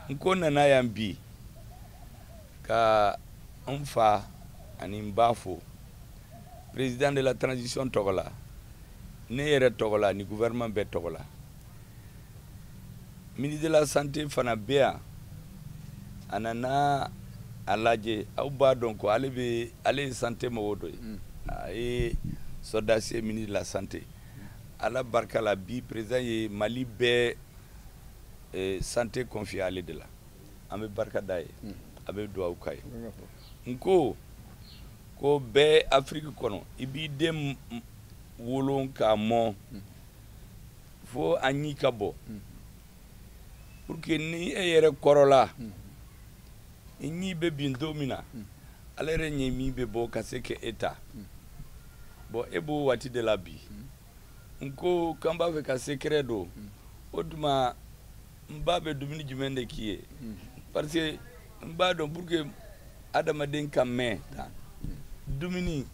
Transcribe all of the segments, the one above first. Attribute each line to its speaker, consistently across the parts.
Speaker 1: n ko nana yan bi ka n fa ani n ba fo président de la transition tɔgɔ la ne yɛrɛ tɔgɔ la ni gouvernement bɛɛ tɔgɔ la ministre de la santé fana bɛ yan a nana a lajɛ aw b'a dɔn ko ale bɛ ale ye santé mɔgɔ dɔ ye mm. a ye sɔrɔdasi ye ministre de la santé ala barika la bi président ye mali bɛɛ eh, santé confier ale de la an bɛ barika d'a ye hmm. an bɛ duwawu k'a ye n ko ko bɛ afiriki kɔnɔ i b'i den wolo k'a mɔ hmm. fo a ɲi ka bɔ hmm. pour que ni e yɛrɛ kɔrɔla i ɲi bɛ bin don min na ala yɛrɛ ɲɛ min bɛ bɔ ka se ka e ta bɔn e b'o waati de la bi n ko k'an b'a fɛ ka secret dɔn o tuma n ba bɛ dumuni jumɛn de k'i ye parce que n b'a dɔn pour que adamaden ka mɛn tan dumuni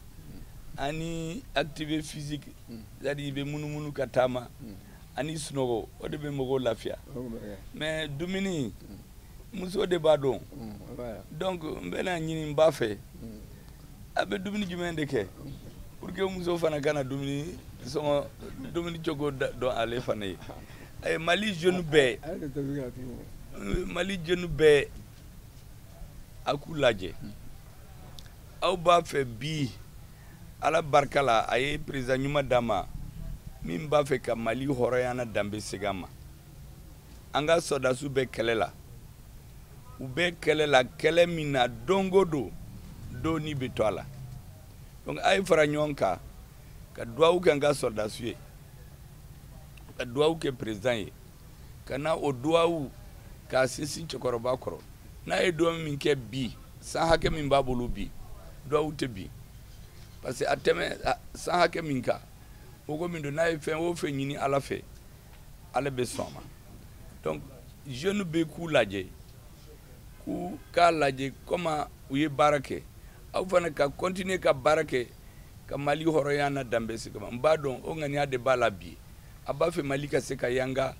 Speaker 1: ani activité physique c'est à dire i bɛ munumunu ka taama ani sunɔgɔ o de bɛ mɔgɔw lafiya mais dumuni muso de b'a dɔn donc n bɛn'a ɲini n ba fɛ a bɛ dumuni jumɛn de kɛ pour que muso fana ka na dumuni sɔngɔ dumuni cogo dɔn ale fana ye eh, mali jeune bɛɛ mali jeune bɛɛ a k'u lajɛ aw b'a fɛ bi ala barika la a ye président ɲuman d'an ma min b'a fɛ ka mali hɔrɔnya n'a danbe segin a ma an ka sɔrɔdasiw bɛ kɛlɛ la u bɛ kɛlɛ la kɛlɛ min na don o don dɔ ni bɛ to a la donc a ye fara ɲɔgɔn kan ka duwawu kɛ an ka sɔrɔdasiw ye ka duwawu kɛ président ye ka na o duwawu k'a sinsin cɛkɔrɔba kɔrɔ n'a ye duwawu min kɛ bi san hakɛ min b'a bolo bi duwawu tɛ bin parce que a tɛmɛ san hakɛ min kan mɔgɔ min don n'a ye fɛn o fɛn ɲini ala fɛ ala bɛ sɔn a ma donc jeune bɛɛ k'u lajɛ k'u k'a lajɛ comment u ye baara kɛ aw fana ka continuer ka baara kɛ ka mali hɔrɔnya n'a danbe segin a ma n b'a dɔn o ŋaniya de b'a la bi a b'a fɛ mali ka se ka yanga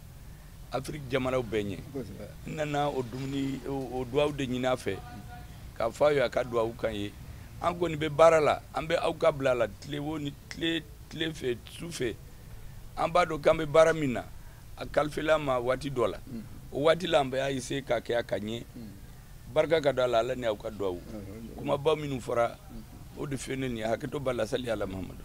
Speaker 1: afiriki jamanaw bɛɛ ɲɛ n nana o dumuni o duwawu de ɲini a fɛ k'a fɔ a ye a ka duwawu k'an ye an kɔni bɛ baara la an bɛ aw ka bila la tile wo ni tile tile fɛ su fɛ an b'a dɔn k'an bɛ baara min na a kalifala an ma waati dɔ la mm. o waati la an bɛ a essayer k'a kɛ a ka ɲɛ mm. barika ka don a la ala ni aw ka duwawu mm. kumaba minnu fɔra o de fɛlɛ nin hakɛto b'a la sali ala mahamadu